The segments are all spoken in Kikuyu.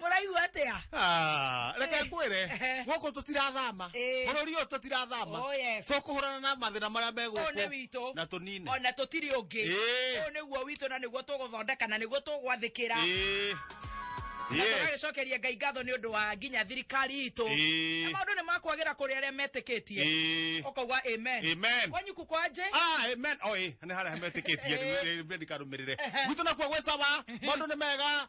mũraigua atĩa Ah, reke Eh. ngwĩre Eh. gũkũ tũtirathama Eh. bũrũri ũyũ tũtirathama Oh, yes. tũkũhũrana na mathĩna marĩa ũyũ nĩ megũkũ witũ na tũnine ona tũtirĩ ũngĩ Eh. ũyũ nĩguo witũ na nĩguo tũgũthondeka na nĩguo tũgwathĩkĩra Ĩĩ. na Yes. tũgagĩcokeria ngai ngatho nĩ ũndũ wa nginya thirikari itũ Ĩĩ. na maũndũ nĩ makwagĩra kũrĩ arĩa metĩkĩtie Ĩĩ. ũkauga amen Amen. kwanyu kukwaje Ah, amen. Oh, eh, nĩ harĩa metĩkĩtie Eh. nĩ ndikarũmĩrĩre gwitũ nakuo gwĩ caba maũndũ nĩ mega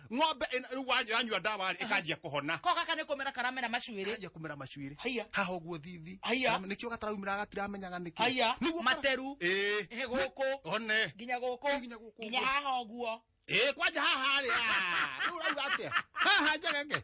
ng'ombe ĩno- wa- yanyua ndawa rĩ ĩkanjia kũhona ko gaka nä kå mera karamera macuä rä kanjia kũmera macuĩrĩ Haiya. haha ũguo thithi Haiya. Na nĩkĩo gataraumĩra gatiramenyaga nĩkĩ Haiya. Nĩguo kara- Materu. Ĩĩ. Ĩhĩ gũkũ. one nginya gå kå Nginya gũkũ nginya ũguo. haha å guo Ĩĩ, kwanja haha rĩ ah, rĩu ũrauga atĩa haha njegeke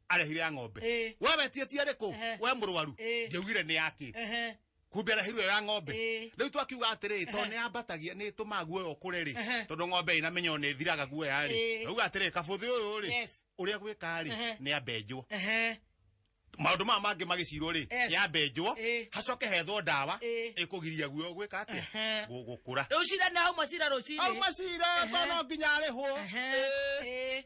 arehire ya ng'ombe Eh. we wetie ti arĩkũ Ehe. we mũrwaru Eh. ngĩugire nĩ yake Ehe. kumbe arehirwo ya ng'ombe Eh. rĩu twakiuga atĩrĩ tondũ nĩ ambatagia nĩ ĩtũmaga guoya ũkũre rĩ Ehe. tondũ ng'ombe ĩna menya nĩ ĩthiraga guoya rĩ Eh. rauga atĩrĩ kabũthĩ ũyũ rĩ Yes. ũrĩa gwĩka rĩ Ehe. nĩ ambenjwo Ehe. maũndũ maya mangĩ magĩcirwo rĩ Yes. yambenjwo Eh. hacoke hethwo ndawa Eh. ĩkũgiria guoya gwĩka atĩa Ehe. Gũ- gũkũra Rũcira na hau macira rũciri. au macira Ehe. tono nginya arĩhwo Ehe. Eh. Eh.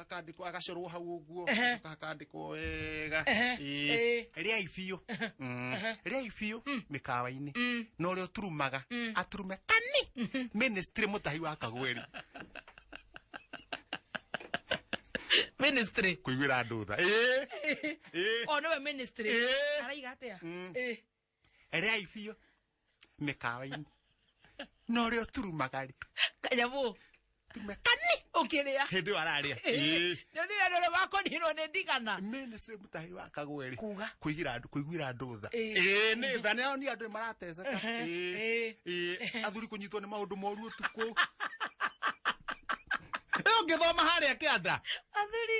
akandikwo agacorwo hau uguo Ehe. acoka akandikwo wega Ehe, Ĩĩ. ĩĩ. rĩai biũ Mm. rĩai biũ mĩkawa-inĩ na ũrĩa ũturumaga aturume kani ministry mũtahi wa kagweri ministry kũiguĩra andũ tha Ĩĩ. Ĩĩ. o nĩwe ministry Ĩĩ. araiga atia Ĩĩ. Ereai biũ mĩkawa-inĩ. Na ũrĩa ũturumaga rĩ, Kanyamũ. tume kani. Ũkĩrĩa. Hĩndĩ ĩyo ararĩa. Ĩĩ. Nĩ ũndũ wendo ũrĩa wakũninwo nĩ ndigana. mene sä må tahä wa kagwe rä Kuga. kå igä andå kå iguä andå tha Ĩĩ. Ĩĩ, nĩ tha nä ni andå nä marateceka Ĩĩ. Ĩĩ. Ĩĩ. athuri kå nyitwo nä maå ndå moru å tukå ä å ngä thoma harä a kä anda Athuri.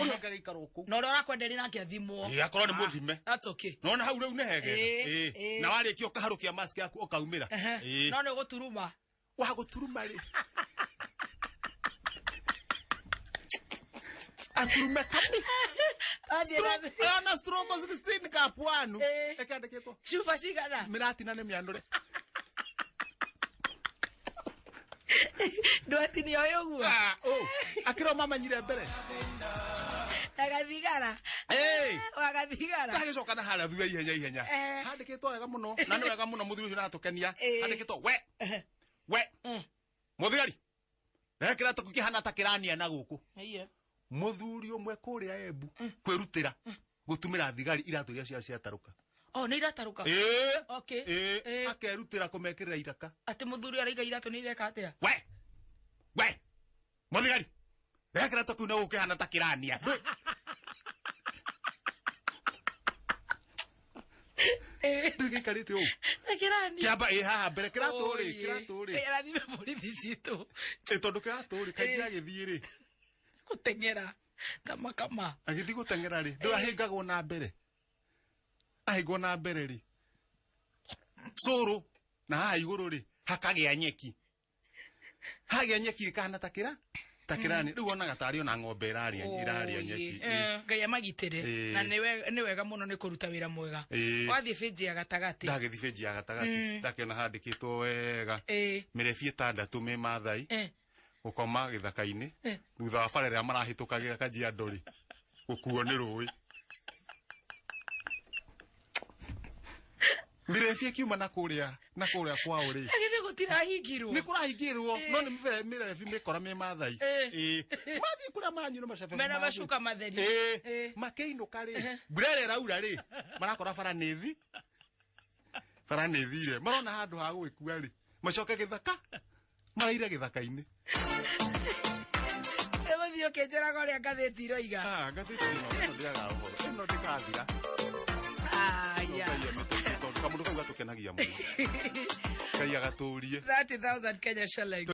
ũrĩa ũngĩ agĩikara ũkũ na ũrĩa ũrakwenderia nake athimwo Ĩ, akorwo nĩ mũthime that's okay nona hau rĩu nĩ Ĩ, hegega Ĩ. ĩ. na warĩkia ũkaharũkia mask yaku ũkaumĩra Ehe. Ĩ. no nĩ ũgũturuma wagũturuma rĩ aturume kani Athiĩ na- Stroke- ona stroke 16 kapuanu Ĩ. ĩkandĩkĩtwo cuba cigana mĩratina nĩ mĩanũre ndwati nä oä å guo Ah, oh, akĩrwo mamanyire mbere agathigara Hey! agathigara ndagĩcoka na harĩa thutha ihenya ihenya Eh. handĩkĩtwo wega mũno na nĩ wega mũno mũthuri ũcio natũkenia Eh. handĩkĩtwo we we mũthigari reke kĩratũ kĩu kĩhana ta kĩrania na gũkũ mũthuri ũmwe kũrĩa embu kwĩrutĩra gutumira thigari iratu iria cia ciatarũka oh nä iratarũka Ĩĩ. okay Ĩĩ. Ĩĩ. akerutĩra kũmekĩrĩra iraka atä må thuri araiga iratå nä ireka atä a we we mũthigari reka kĩratũ kĩu na gũkĩhana ta kĩrania Ndũ- ndũ gĩikarĩte ũũ kä rani kĩamba ĩ haha mbere kĩratũ rĩ kĩratũ rĩ rathime borithi citå Ĩ, tondũ kĩratũ rĩ kaingĩ Ĩĩ. agĩthiĩ rä gå teng'era kama kama agithiĩ gũteng'era rĩ ndũrahĩngagwo na mbere ahĩngwo na mbere rĩ cũrũ na haha igũrũ rĩ hakagĩa nyeki hagĩa nyeki rĩ kahana ta kĩra ta kĩrani rĩu onaga tarĩ ona ng'ombe ĩrarĩa ĩrarĩa nyeki Ĩĩ. Eh, ngai amagitĩre Ĩĩ. na nĩ we- nĩ wega mũno nĩ kũruta wĩra mwega Ĩĩ. wathiĩ bĩnji ya gatagatĩ ndagĩthiĩ benji ya gatagatĩ ndakĩona handĩkĩtwo wega Ĩĩ. mĩrebi ĩtandatũ me mathai Eh. gukoma githaka-ini thutha wa bara ĩrĩa marahĩtũkagĩra kajiado rĩ gukuo nĩ rũĩ mirebi akiuma na kũrĩa na kũrĩa kwao rĩ agithe gutirahingirwo nĩ kũrahingirwo no nĩ mĩbe- mĩrebi mĩkora mĩ mathai Eh. Ĩĩ. mathiĩ kũrĩa manyu na macabe mena manyu. macuka matheri Ĩĩ. Ĩĩ. makĩinũka rĩ mbura ĩrĩa ĩraura rĩ marakora bara nĩ thi bara nĩ thire marona handũ ha gũgĩkua rĩ macoke gĩthaka maraire githaka-inĩ Egũthiĩ ũkĩnjĩraga ũrĩa ngathĩti iroiga. Ah, ngathĩti ĩno ĩno ndĩaga ũhoro ĩno ndĩkathira Aya. Ngai amĩteithie tondũ kamũndũ kau gatũkenagia mũno ngai agatũrie 30,000 Kenya shillings.